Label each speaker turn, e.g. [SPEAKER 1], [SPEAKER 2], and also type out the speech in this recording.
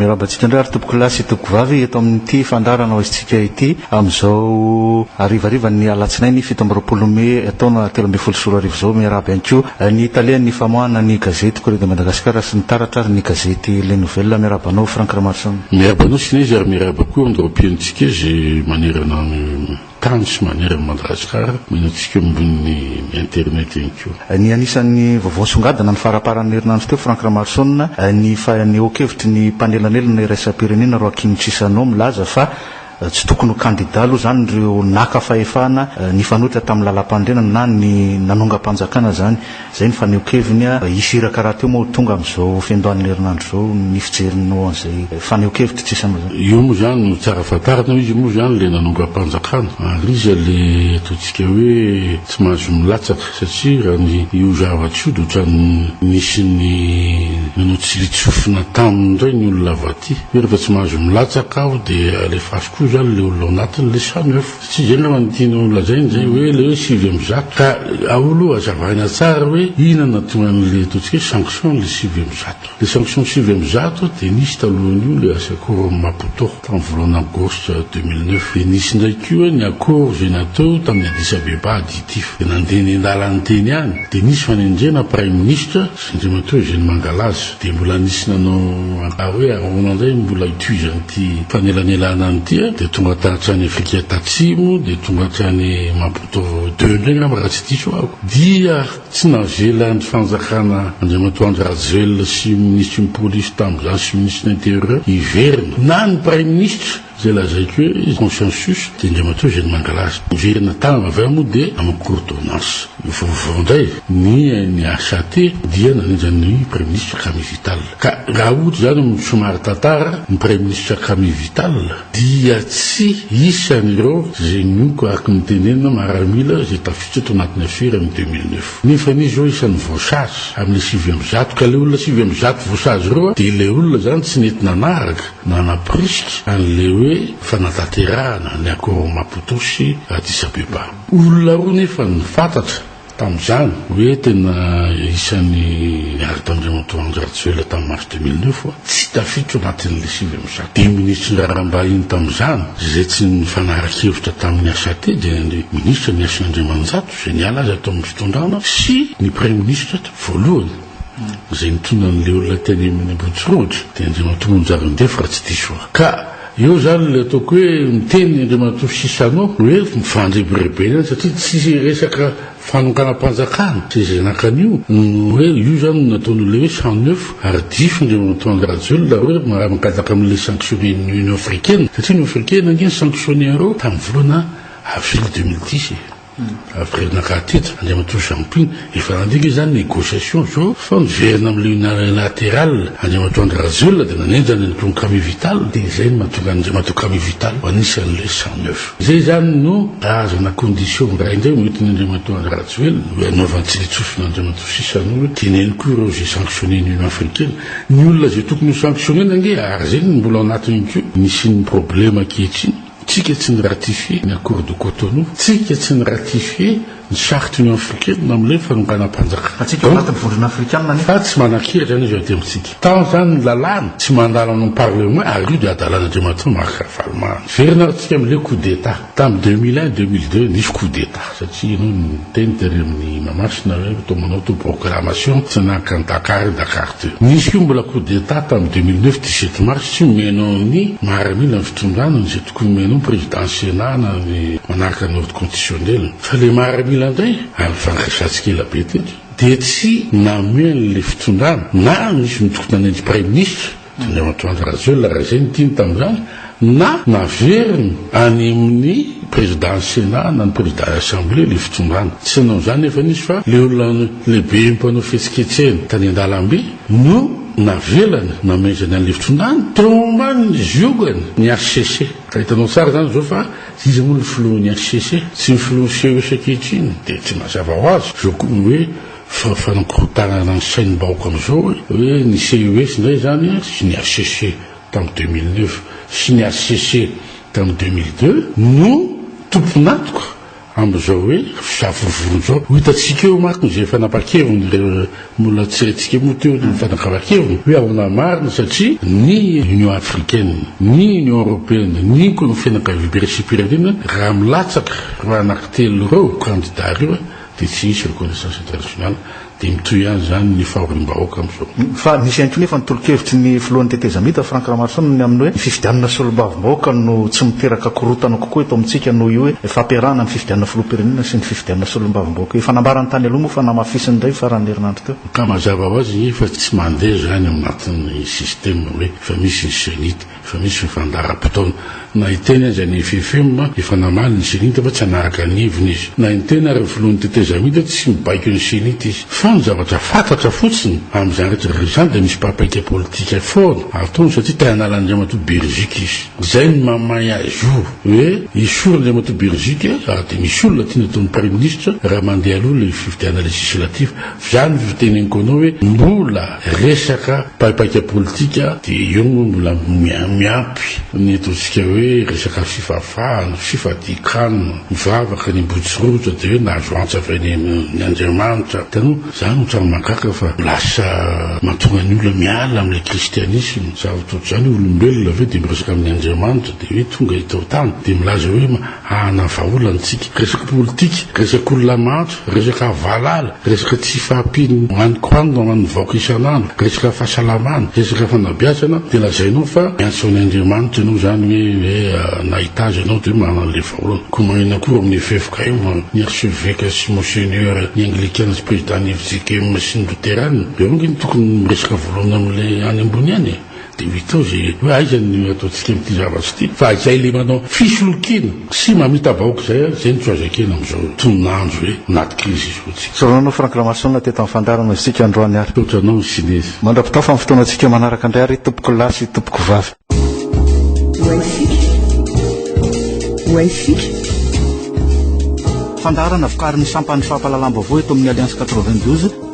[SPEAKER 1] Miarahaba antsika indray ary tompokolahy sy tompokovavy eto amin'ity fandaharana ho aizintsika ity amin'izao harivarivan'ny alatsinainy fito amby roapolo mey taona telo ambin'ny folo sy roa arivo izao. Miarahaba ihany koa ny talen'ny famoahana ny gazety Courrier de Madagascar sy ny taratra ary ny gazety Les Nouvelles. Miarahaba anao Franck Ramarison. Miarahaba anao Sinezy ary
[SPEAKER 2] miarahaba koa amin'ireo mpihaino antsika izay manerana ny. Tany sy manery an'i Madagasikara, omena antsika eo ambonin'ny internet ihany koa. Ny anisan'ny vaovao
[SPEAKER 1] nisongadina ny faramparan'ny herinandro teo, Franck Ramaroson, ny fanehoan-kevitry ny mpanelanelana iraisam-pirenena Roakim Chissano milaza fa tsy tokony ho kandida aloha izany ireo naka fahefana nifanohitra tamin'ny lalampanorenana na ny nanongam-panjakana izany. Izay ny fanehonkeviny a! Hisy iraka rahateo moa ho tonga amin'izao fiandohan'ny herinandro izao ny fijeriny ho an'izay fanehonkevitra tsy isan'izao. Io moa izany no tsara
[SPEAKER 2] fantarina hoe izy moa izany ilay nanongam-panjakana ary izy ilay ataontsika hoe tsy mahazo milatsaka satria raha ny io zavatra io dia ohatran'ny nisy ny nanao tsilin-tsofina taminy indray ny olona avy aty hoe rehefa tsy mahazo milatsaka aho dia alefasiko eo izany ilay olona ao anatiny ilay samy hafa. Tsy izay angamba no tianao holazaina izay hoe ilay hoe sivy amby zato. Ka ao aloha azavaina tsara hoe inona no nahatonga an'ilay ataontsika hoe sanction ilay sivy amby zato. Ilay sanction sivy amby zato dia nisy talohan'io ilay asa Cour Maputo tamin'ny volana aogositra deux mille neuf. Dia nisy indray koa ny accord izay natao tamin'i Addis Abeba additif. Dia nandeha nendalany teny ihany. Dia nisy fanendrena praiminisitra. Andriamatoa Eugène Mangalaza, dia mbola nisy nanao ampaha hoe ahoana indray no mbola hitohizan'ity fanelanelana any ity dia tonga hatrany Afrika Tatsimo dia tonga hatrany Maputo deux indray angamba raha tsy diso aho dia tsy navelan'ny fanjakana Andriamatoa Andry Rajoelina sy Minisitry ny Polisy tamin'izany sy Minisitry ny Intérieur hiverina na ny Praiminisitra Izay lazaiko hoe consensus dia Andriamatoa izay no mangalaza. Miverina tany avy any moa dia amin'ny cour d'ordonnance. Vaovao indray, ny NHAT dia nanendry an'i Praiminisitra Camille Vital. Ka raha ohatra izany amin'ny somary tantara, ny Praiminisitra Camille Vital dia tsy isan'ireo izay mioko araka ny tenenina maramila izay tafiditra tao anatin'ny afera amin'ny deux mille neuf. Nefa anie izao isan'ny voasazy amin'ilay sivy amby zato. Ka ilay olona sivy amby zato voasazy ireo dia ilay olona izany tsy nety nanaraka. Nanaporisika an'ilay hoe fanatanterahana ny Accord Maputo sy Addis Abeba. Olona roa nefa no fantatra tamin'izany hoe tena isan'ny niara-tandremantao an-dRajoelina tamin'ny mars deux mille neuf fa tsy tafiditra anatin'ilay sivy amby zato dimy minisitry ny raharaham-bahiny tamin'izany. Izay tsy nifanara-kevitra tamin'ny HAT dia ny minisitra Miasin' Andriamanjato izay niala azy ato amin'ny fitondrana sy ny praiminisitra voalohany. Izay mitondra an'ilay olona teny amin'ny Ambohitsorohitra dia Andriamatoa Monjary Andefy raha tsy diso aho. Ka eo izany ilay ataoko hoe miteny Andriamatoa Sisano hoe mifandrebirebena satria tsy resaka fanonganam-panjakana sy izay naka an'io no hoe io izany no nataon'ilay hoe cent neuf ary diso Andriamatoa Andry Rajoelina hoe mankataka amin'ilay sanctionner-n'ny Union Africaine satria Union Africaine ange ni-sanctionner-o tamin'ny volana avrily deux mille dix e. Averina ka hatreto, Andriamatoa Jean Pin, efa nandika izany négociation izao fa miverina amin'ilay unilateral Andriamatoa Andry Rajoelina dia nanenjana an'i Tongo Camille Vital dia izay no mahatonga an'Andriamatoa Camille Vital ho anisan'ilay cent neuf. Izay izany no ahazoana condition indray indray hoentin'i Andriamatoa Andry Rajoelina hoe hanaovany tsilitsofina Andriamatoa sisa no hoe teneno koa ireo izay sanctionner-n'i Union Africaine. Ny olona izay tokony ho sanctionner-na ange ary izay no mbola ao anatiny koa no hisian'ny problème ankehitriny. Tsika tsy ni ratifier ny accord de Cotonou, tsika tsy ni ratifier ny charte Union africaine na milay fanonganam panjaka. Fa tsika ao anatin ny vondrona
[SPEAKER 1] afrikana anefa. Fa tsy manankery
[SPEAKER 2] zany izy eo aty amintsika. Tant zany ny lalàna tsy mandalo any am parlement ary io dia adalan Andriamatoa Marc Ravalomanana. Very nareo tsika am le coup d'etat tam deux mille un, deux mille deux nisy coup d'etat. Satria ianao niteny tery amin'ny Mahamasina hoe toa manao toa proclamation tsy naka an'i Dakar i Dakar teo. Nisy koa mbola coup d'Etat tamin'ny deux mille neuf dix sept mars tsy omenao ny maharamila ny fitondràna izay tokony omenao ny président Sénat na ny manaraka ny ordre constitutionnel fa ilay maharamila indray ary nifandraisantsika ela be teto dia tsy nameny ilay fitondràna na nisy nitokona ny an'ny praiminisitra Andriamatoandro Rajoelina raha izay no tiany tamin'izany na naveriny any amin'ny Président Sénat na ny Président Assemblée ilay fitondrana. Tsy nanao izany nefany izy fa ilay olona lehibe mpanao fihetsiketsehana tany an-dalambe no navelany namezany an'ilay fitondrana teo ambanin'ny ziogany ny HCC. Ka hitanao tsara izany izao fa iza moa ilay filohan'ny HCC? Tsy ny filohan'ny CEC ankehitriny dia tsy mazava ho azy izao koa ny hoe Fa fanankorontanana ny sain'ny bahoka amizao hoe ny CES ndray zany sy ny HCC tam deux mille neuf sy ny HCC tam deux mille deux no tompon'atoka amizao hoe fisavorovorona zao. Ho hitantsika eo manko izay fanapakeviny le mbola tsy haintsika moa teo ny fanakavakeviny hoe ahona marina satria ny Union Africaine, ny Union Européenne, ny ko ny fianakaviam-piraisim-pirenena raha milatsaka ireo anaky telo ireo kandida ireo dia tsy hisy reconnaissance internationale, dia mitohy ihany izany ny fahoriam-bahoaka amin'izao. Fa misy ihany koa nefa
[SPEAKER 1] ny tolo-kevitry ny filohan'ny tetezamita, Franck Ramaroson, ny amin'ny hoe ny fifidianana solombavambahoaka no tsy miteraka korontana kokoa eto amintsika noho io hoe fampiarahana ny fifidianana filoham-pirenena sy ny fifidianana solombavambahoaka. Efa nambarany tany aloha moa fa namafisiny indray ny faran'ny herinandro teo. Ka mazava ho azy
[SPEAKER 2] fa tsy mandeha izany ao anatin'ny système hoe efa misy ny CENI. Efa misy ny fandaharam-potoana. Na hiteny aza ny FFM, efa namaly ny CENI-T fa tsy hanaraka ny heviny izy. Na ny tena ary filohan'ny tetezamita tsy mibaiko ny CENI-T izy. Fa ny zavatra fantatra fotsiny, amin'izany rehetra rehetra izany dia misy paika politika foana ataony satria te hanala Andriamatoa Beriziky izy. Izay no mahamay azy io hoe esory Andriamatoa Beriziky ary dia misy olona tiany ataony Praiminisitra raha mandeha aloha ilay fifidianana legislatif. Viano io teny Nkono hoe mbola resaka paipaika politika de eo no mbola miampy ny ataontsika hoe resaka fifafahana, fifadiakana, mivavaka ny ambotsirotra de hoe nahazo antsa avy any amin' Andriamanitra, hitanao zany no tsara mahagaga fa lasa mahatonga ny olona miala amle kristianisma, zava-toa zany olombelona ve de miresaka amin' Andriamanitra de hoe tonga eto an-tany de milaza hoe Ahana vahaolana antsika. Resaka politika, resaka olona mahantra, resaka valala, resaka tsy fahampian'ny hoaniko hanina ho an'ny vahoaka isan'andro, resaka fahasalamana, resaka fanabeazana dia lazainao fa miantso an' Andriamanitra ianao izany hoe hoe nahita azy ianao dia manana an'ilay vahaolana. Koa maninona koa eo amin'ny eveka eo, ny archeveka sy monseigneur, ny anglikana sy président ny fjkm sy ny loterana dia hoy ve ny tokony miresaka voalohany amin'ilay any ambony any e? Dia mitovy hoe aiza ny ataontsika amin'ity zavatra ity fa izay le manao fisolokiana sy mamita vahoaka izay ary izay no tsy azo ekena amin'izao tonon'andro hoe anaty krizy izao tsika. Sao nanao Franck Ramason
[SPEAKER 1] teto amin'ny fandaharana isika androany ary. Misaotra anao ny Sinezy.
[SPEAKER 2] Mandra-pitao fa amin'ny fotoanantsika
[SPEAKER 1] manaraka indray ary tompoko lahy sy tompoko vavy. Ho haintsika. Ho haintsika. Fandaharana vokarin'ny sampan'ny fampahalalam-baovao eto amin'ny Alliance quatre-vingt-douze.